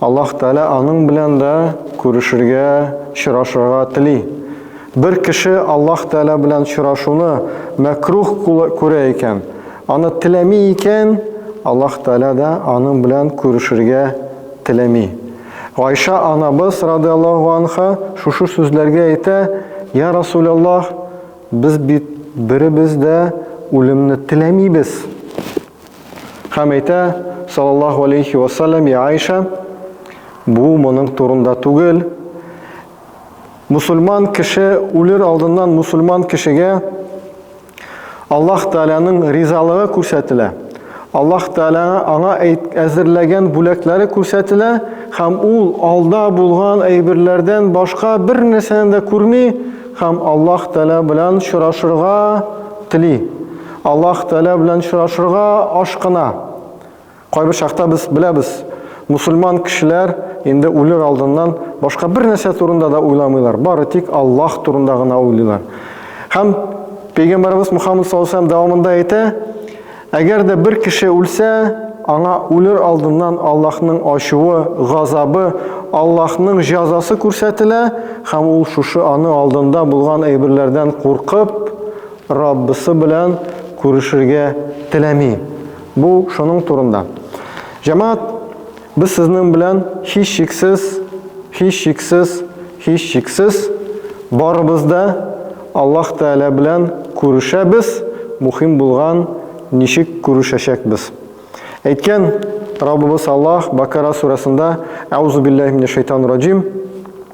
Аллаһ Тәгалә аның белән дә күрешергә, чорашырга тели. Бер кеше Аллаһ Тәгалә белән чорашуны мәкруһ күрә икән, аны теләми икән, Аллаһ Тәгалә дә аның белән күрешергә теләми. Гайшә анабыз, радыяллаһу анха, шушы сүзләргә әйтә, Йә Расуләллаһ, без бит беребез дә үлемне теләмибез. Һәм әйтә, саллаллаху алейхи вассалям, я Айша, бу моның турында түгел. Мусульман кеше үлер алдыннан мусульман кешегә Аллаһ Тәгаләнең ризалыгы күрсәтелә. Аллаһ Тәгалә аңа әзерләгән бүләкләре күрсәтелә һәм ул алда булган әйберләрдән башка бер нәрсәне дә күрми һәм Аллаһ Тәгалә белән очрашырга тели. Аллаһ Тәгалә белән очрашырга ашкына. Кайбер чакта без беләбез, мусульман кешеләр инде үлер алдыннан башка бер нәрсә турында да уйламыйлар, бары тик Аллаһ турында гына уйлыйлар. Һәм Пәйгамбәрбез Мухаммад саллаллаһу алейһи дәвамында әйтә, әгәр дә бер кеше үлсә, аңа үлер алдыннан Аллаһның ачуы, газабы, Аллаһның җәзасы күрсәтелә, һәм ул шушы аны алдында булган әйберләрдән куркып, Раббысы белән күрешергә теләми. Бу шуның турында. Җәмәгать, без сезнең белән һич шиксез, һич шиксез, һич шиксез барыбыз да Аллаһ Тәгалә белән күрешәбез, мухим булган ничек күрешәчәкбез. Әйткән Раббыбыз Аллаһ Бакара сурәсендә, Әузубиллаһи минәш шайтанир раҗим,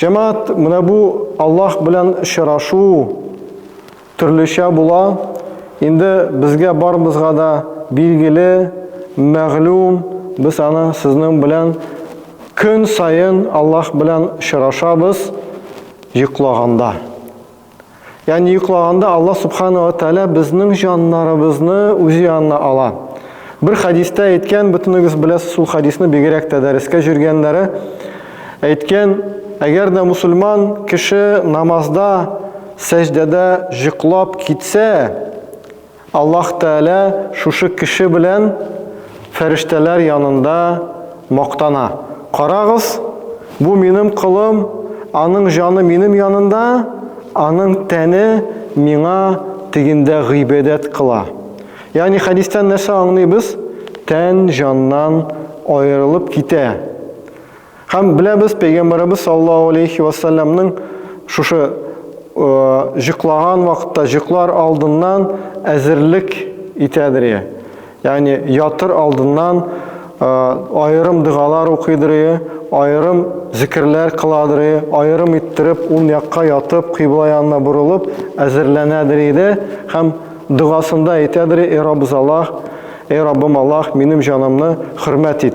Җәмәгать, менә бу Аллаһ белән очрашу төрлечә була. Инде безгә барыбызга да билгеле, мәгълүм, без аны сезнең белән көн саен Аллаһ белән очрашабыз йоклаганда. Ягъни йоклаганда Аллаһ субхана ва тәгалә безнең җаннарыбызны үзе янына ала. Бер хадистә әйткән, бөтенегез беләсез ул хадисны, бигрәк тә дәрескә җөргәннәре әйткән, әгәр дә мусульман кеше намазда, сәҗдәдә җоклап китсә, Аллаһ Тәгалә шушы кеше белән фәрештәләр янында мактана. Карагыз, бу минем колым, аның җаны минем янында, аның тәне миңа тегендә гыйбадәт кыла. Ягъни хәдистән нәрсә аңлыйбыз? Тән җаннан аерылып китә. Һәм беләбез, пәйгамбәребез саллаллаһу алейхи вассаламның шушы җыклаган вакытта, җыклар алдыннан әзерлек итәдер ие. Ягъни ятыр алдыннан аерым дәгалар укыйдыр ие, аерым зикрләр кыладыр ие, аерым иттереп ул якка ятып, кыйбла янына борылып әзерләнәдер иде һәм догасында әйтәдер, "Эй Раббыз Аллаһ, эй Раббым Аллаһ, минем җанымны хөрмәт ит".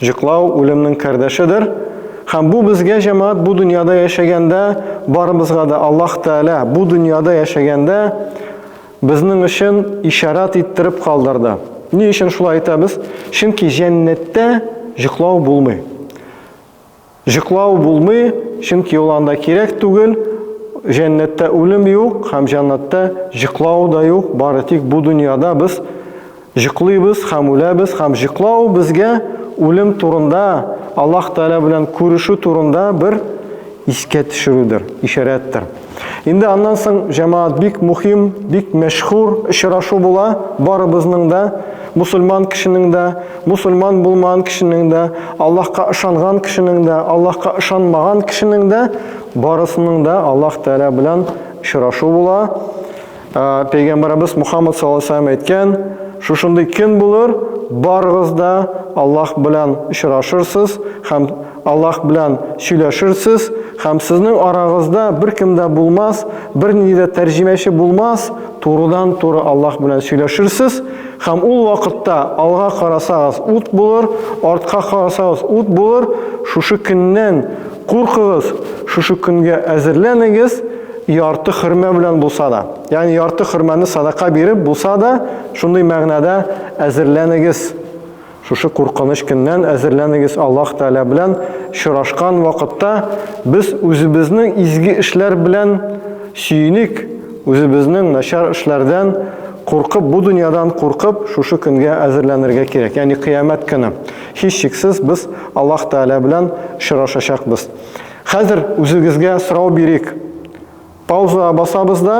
Җоклау үлемнең кардәшедер, һәм бу безгә җәмәгать бу дөньяда яшәгәндә барыбызга да Аллаһ Тәгалә бу дөньяда яшәгәндә безнең өчен ишарат иттереп калдырды. Ни өчен шулай әйтәбез? Чөнки җәннәттә җоклау булмый. Җоклау булмый, чөнки ул анда кирәк түгел. Җәннәттә үлем юк һәм җәннәттә җоклау да юк, бары тик бу дөньяда без җоклыйбыз һәм үләбез һәм җоклау безгә үлем турында, Аллаһ Тәгалә белән күрешү турында бер искә төшерүдер, ишарәттер. Инде аннан соң җәмаат бик мухим, бик мәшһүр очрашу була, барыбызның да, мусульман кешенең дә, мусульман булмаган кешенең дә, Аллаһка ышанган кешенең дә, Аллаһка ышанмаган кешенең дә, барысының да Аллаһ Тәгалә белән очрашу була. Пәйгамбарыбыз Мухаммад саллаллаһу әйткән, шушындый көн булыр, барыгыз да Аллаһ белән очрашырсыз һәм Аллаһ белән сөйләшерсез һәм сезнең арагызда беркем дә булмас, бернинди дә тәрҗемәче булмас, турыдан-туры Аллаһ белән сөйләшерсез һәм ул вакытта алга карасагыз ут булыр, артка карасагыз ут булыр, шушы көннән куркыгыз, шушы көнгә әзерләнегез, Ярты хөрмә белән булса да, ягъни ярты хөрмәне садака биреп булса да, шундый мәгънәдә әзерләнегез. Шушы куркыныч көннән әзерләнегез. Аллаһ Тәгалә белән очрашкан вакытта без үзебезнең изге эшләр белән сөеник, үзебезнең начар эшләрдән куркып, бу дөньядан куркып, шушы көнгә әзерләнергә кирәк. Ягъни Кыямәт көне. Һичшиксез без Аллаһ Тәгалә белән очрашачакбыз. Хәзер үзегезгә сорау бирик. Пауза басабыз да,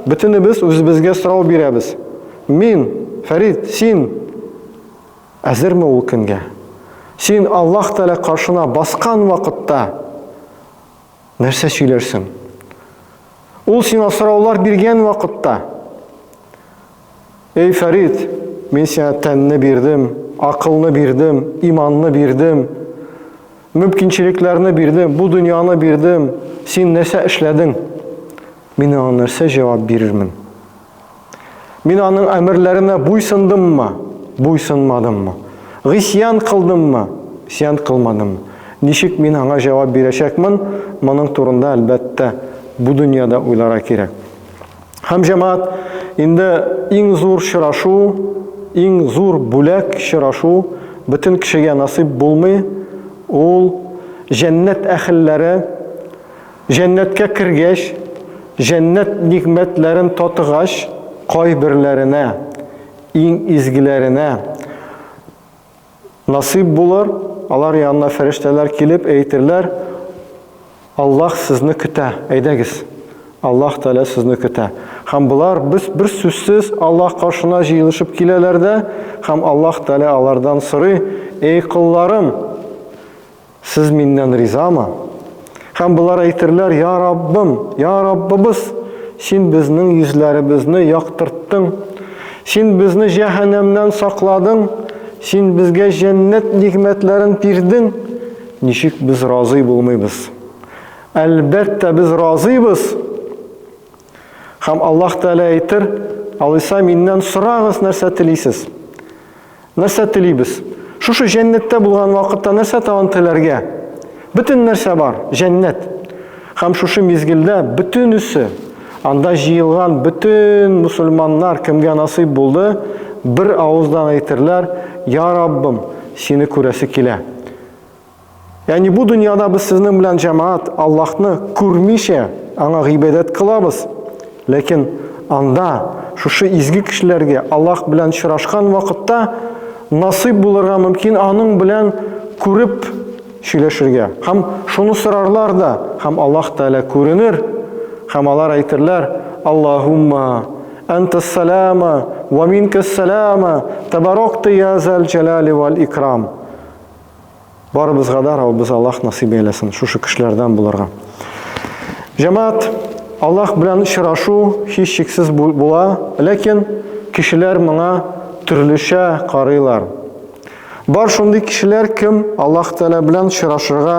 бөтенебез үзебезгә сорау бирәбез. Мин, Фәрит, син әзерме ул көнгә? Син Аллаһ Тәгалә каршына баскан вакытта нәрсә сөйләрсең? Ул сиңа сораулар биргән вакытта Эй Фәрит, мин сиңа тәнне бирдем, акылны бирдем, иманны бирдем, мөмкинчелекләрне бирдем, бу дөньяны бирдем, син нәрсә эшләдең? Мин аңа нәрсә җавап бирермен? Мин аның әмерләренә буйсындыммы, буйсынмадыммы? Гыйсьян кылдыммы, исьян кылмадыммы? Ничек мин аңа җавап бирәчәкмен? Моның турында, әлбәттә, бу дөньяда уйлара кирәк. Һәм җәмәгать инде иң зур чырашу, иң зур бүләк чырашу бөтен кешегә насыйп булмый, ул җәннәт әхелләре җәннәткә кергәч, җәннәт нигъмәтләрен татыгач, кайберләренә, иң изгеләренә, Насыйп булыр, алар янына фәрештәләр килеп әйтерләр, Аллаһ сезне көтә, әйдәгез. Аллаһ Тәгалә сезне көтә. Һәм болар без бер сүзсез Аллаһ каршына җыелышып киләләр дә, һәм Аллаһ Тәгалә алардан сорый, Эй колларым, Сез миннән ризамы? Һәм болар әйтерләр, Я Раббым, Я Раббыбыз, Син безнең йөзләребезне яктырттың, Син безне җәһәннәмнән сакладың, Син безгә җәннәт нигъмәтләрен бирдең, ничек без разый булмыйбыз? Әлбәттә, без разыйбыз! Һәм Аллаһ Тәгалә әйтер, Алайса миннән сорагыз, нәрсә телисез? Нәрсә телибез? Шушы җәннәттә булган вакытта нәрсә тагын теләргә? Бөтен нәрсә бар, җәннәт. Һәм шушы мизгелдә бөтенесе, анда җыелган бөтен мусульманнар кемгә насыйп булды, бер авыздан әйтерләр, Я Раббым, сине күрәсе килә. Яни бу дөньяда без сезнең белән җәмаат Аллаһны күрмичә аңа гыйбадәт кылабыз, ләкин анда шушы изге кешеләргә Аллаһ белән очрашкан вакытта насыйп булырга мөмкин аның белән күреп сөйләшергә. Һәм шуны сорарлар да, һәм Аллаһ Тәгалә күренер, һәм алар әйтерләр: "Аллаһумма антас салама ва минкас салама, табаракта я зал җалали вал икрам". Барыбызга да Раббыбыз Аллаһ насыйп әйләсен шушы кешеләрдән булырга. Җәмәгать, Аллаһ белән очрашу һич шиксез була, ләкин кешеләр моңа төрлечә карыйлар. Бар шундый кешеләр, кем Аллаһ Тәгалә белән очрашырга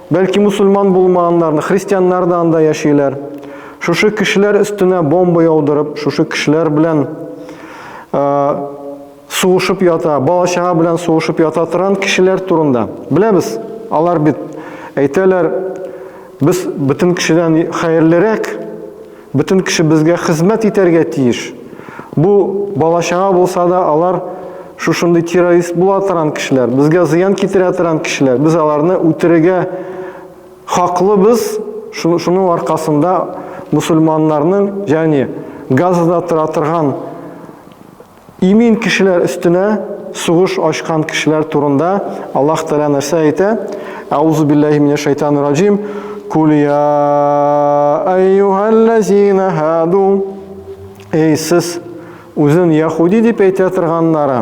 Бәлки мусульман булмаганнарны, христианнар да анда яшиләр. Шушы кешеләр өстенә бомба яудырып, шушы кешеләр белән ә, сугышып ята, балачага белән сугышып ята торган кешеләр турында. Беләбез, алар бит әйтәләр, без бөтен кешедән хәерлерәк, Бөтен кеше безгә хезмәт итәргә тиеш. Бу бала-чага булса да, алар шушындый террорист була торган кешеләр, безгә зыян китерә торган кешеләр. Без аларны үтерергә хаклыбыз. Шуның аркасында мөселманнарның, ягъни Газада тора торган, Имин кешеләр өстенә сугыш ачкан кешеләр турында Аллаһ Тәгалә нәрсә әйтә? Әузу биллаһи минәш шайтанир раҗим. Кул я айюхаллазина хаду. Эй сез үзен яхуди дип әйтә торганнары.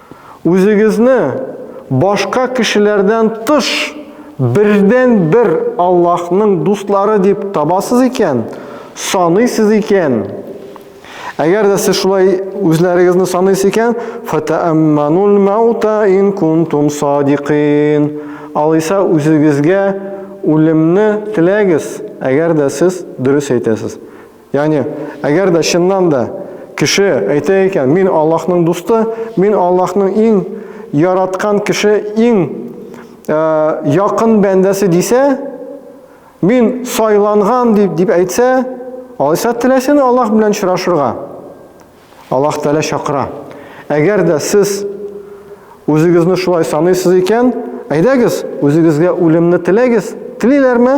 Үзегезне башка кешеләрдән тыш бердәнбер Аллаһның дуслары дип табасыз икән, саныйсыз икән, Әгәр дә сез шулай үзләрегезне саныйсыз икән, фатаамманул маута ин кунтум садикин. Алайса үзегезгә үлемне теләгез, әгәр дә сез дөрес әйтәсез. Ягъни, әгәр дә чыннан да кеше әйтә икән, мин Аллаһның дусты, мин Аллаһның иң яраткан кеше, иң якын бәндәсе дисә, мин сайланган дип дип әйтсә, алайса теләсен Аллаһ белән очрашырга. Аллаһ Тәгалә чакыра. Әгәр дә сез үзегезне шулай саныйсыз икән, әйдәгез, үзегезгә үлемне теләгез. Телиләрме?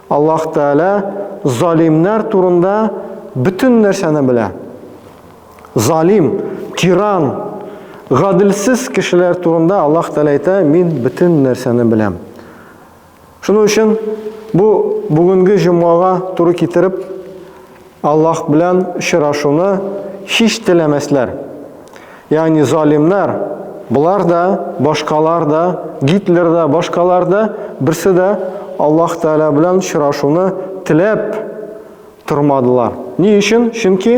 Аллаһ Тәгалә залимнәр турында бөтен нәрсәне белә. Залим, тиран, гаделсез кешеләр турында Аллаһ Тәгалә әйтә, мин бөтен нәрсәне беләм. Шуның өчен бу бүгенге җомгага туры китереп Аллаһ белән очрашуны һич теләмәсләр. Ягъни залимнар, болар да, башкалар да, Гитлер да, башкалар да, берсе дә Аллаһ Тәгалә белән очрашуны теләп тормадылар. Ни өчен? Чөнки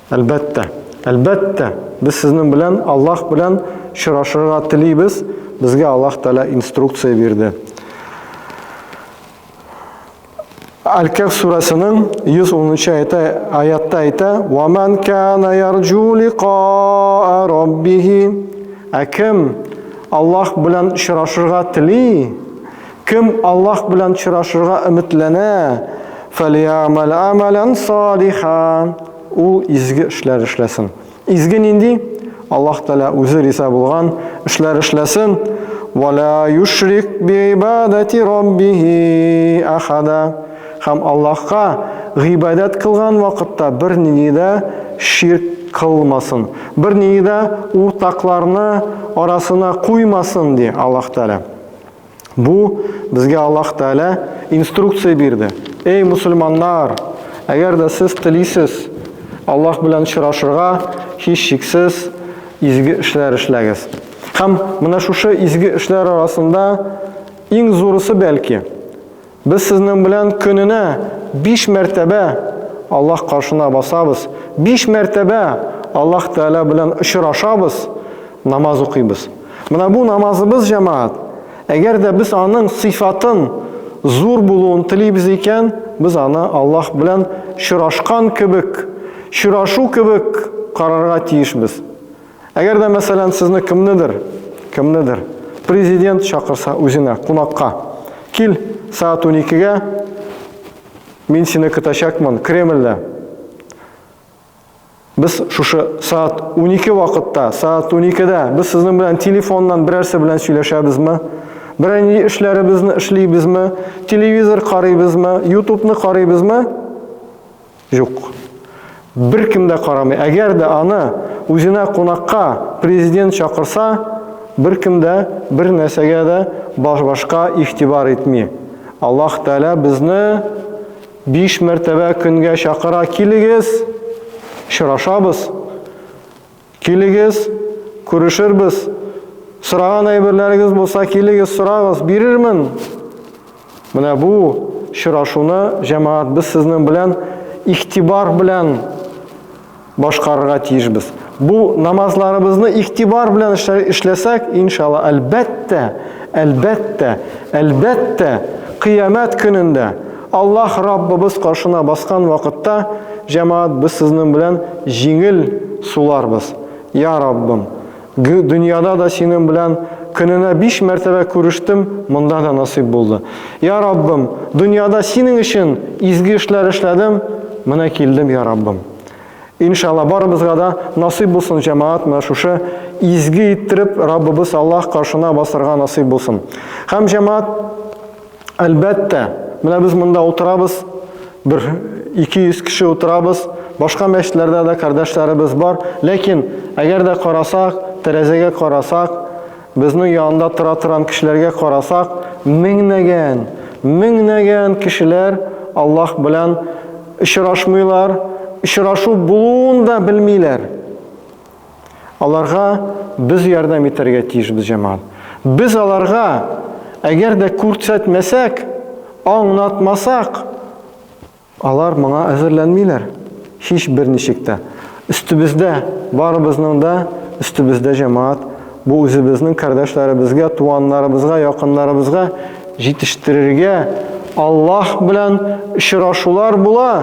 Әлбәттә, әлбәттә, без сезнең белән Аллаһ белән очрашырга телибез, безгә Аллаһ Тәгалә инструкция бирде. Аль-Кәһф сүрәсенең 110 аятта аятта әйтә: "Ва ман кана ярҗу лиқаа раббихи" Ә кем Аллаһ белән очрашырга тели, Кем Аллаһ белән очрашырга өметләнә, фәлиәмәл әмәлән салиха. Ул изге эшләр эшләсен. Изге нинди? Аллаһ Тәгалә үзе риза булган эшләр эшләсен. Вала юшрик биибадати раббихи ахада. Һәм Аллаһка гыйбадәт кылган вакытта бернинди дә ширк кылмасын, бернинди дә уртакларны арасына куймасын, ди Аллаһ Тәгалә. Бу безгә Аллаһ Тәгалә инструкция бирде. Эй, мусульманнар, әгәр дә сез телисез Аллаһ белән очрашырга, һичшиксез изге эшләр эшләгез. Һәм менә шушы изге эшләр арасында иң зурысы бәлки Без сезнең белән көненә биш мәртәбә Аллаһ каршына басабыз, биш мәртәбә Аллаһ Тәгалә белән очрашабыз, намаз укыйбыз. Менә бу намазыбыз, җәмәгать. Әгәр дә без аның сыйфатын зур булуын телибез икән, без аны Аллаһ белән чорашкан кебек, чорашу кебек карарга тиешбез. Әгәр дә, мәсәлән, сезне кемнедер, кемнедер президент чакырса үзенә кунакка, кил, сәгать 12-гә мин сине көтәчәкмен Кремльдә. Без шушы сәгать 12 вакытта, сәгать 12-дә без сезнең белән телефоннан берәрсе белән сөйләшәбезме? Берәр ни эшләребезне эшлибезме? Телевизор карыйбызмы? Ютубны карыйбызмы? Юк. Беркем дә карамый. Әгәр дә аны үзенә кунакка президент чакырса, беркем дә бер нәрсәгә дә башка игътибар итми. Аллаһ Тәгалә безне биш мәртәбә көнгә чакыра, килегез, очрашабыз. Килегез, күрешербез. Сораган әйберләрегез булса, килегез, сорагыз, бирермен. Менә бу чырашуны, җәмәгать, без сезнең белән ихтибар белән башкарырга тиешбез. Бу намазларыбызны ихтибар белән эшләсәк, иншалла, әлбәттә, әлбәттә, әлбәттә, кыямәт көнендә Аллаһ Раббыбыз каршына баскан вакытта, җәмәгать, без сезнең белән җиңел суларбыз. Я Раббым! Г дөньяда да синең белән көненә биш мәртәбә күрештем, монда да насыйп булды. Я Раббым! Дөньяда синең өчен изге эшләр эшләдем, менә килдем, я Раббым! Иншалла, барыбызга да насыйп булсын, җәмәгать, менә шушы изге иттереп Раббыбыз Аллаһ каршына басарга насыйп булсын. Һәм, җәмәгать, Әлбәттә, менә без монда утырабыз, бер 200 кеше утырабыз, башка мәчетләрдә дә кардәшләребез бар, ләкин әгәр дә карасак, тәрәзәгә карасак, безнең янында тора торган кешеләргә карасак, меңнәгән, меңнәгән кешеләр Аллаһ белән очрашмыйлар, очрашу булуын да белмиләр. Аларга без ярдәм итәргә тиешбез, җәмәгать. Без аларга, әгәр дә күрсәтмәсәк, аңнатмасак, алар моңа әзерләнмиләр. Һич берничек тә. Өстебездә, барыбызның да өстебездә, җәмәгать, бу үзебезнең кардәшләребезгә, туганнарыбызга, якыннарыбызга җитештерергә Аллаһ белән очрашулар була.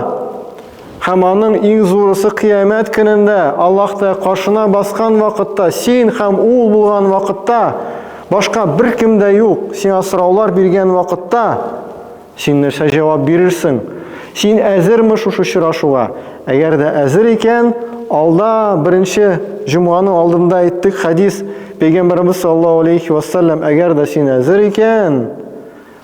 Һәм аның иң зурысы кыямәт көнендә, Аллаһта каршына баскан вакытта, син һәм ул булган вакытта, башка бер кем дә юк, сиңа сораулар биргән вакытта, син нәрсә җавап бирерсең? Син әзерме шушы очрашуга? Әгәр дә әзер икән, алда беренче җомганың алдында әйттек хәдис, пәйгамбәребез саллаллаһу алейхи вассалам, әгәр дә син әзер икән,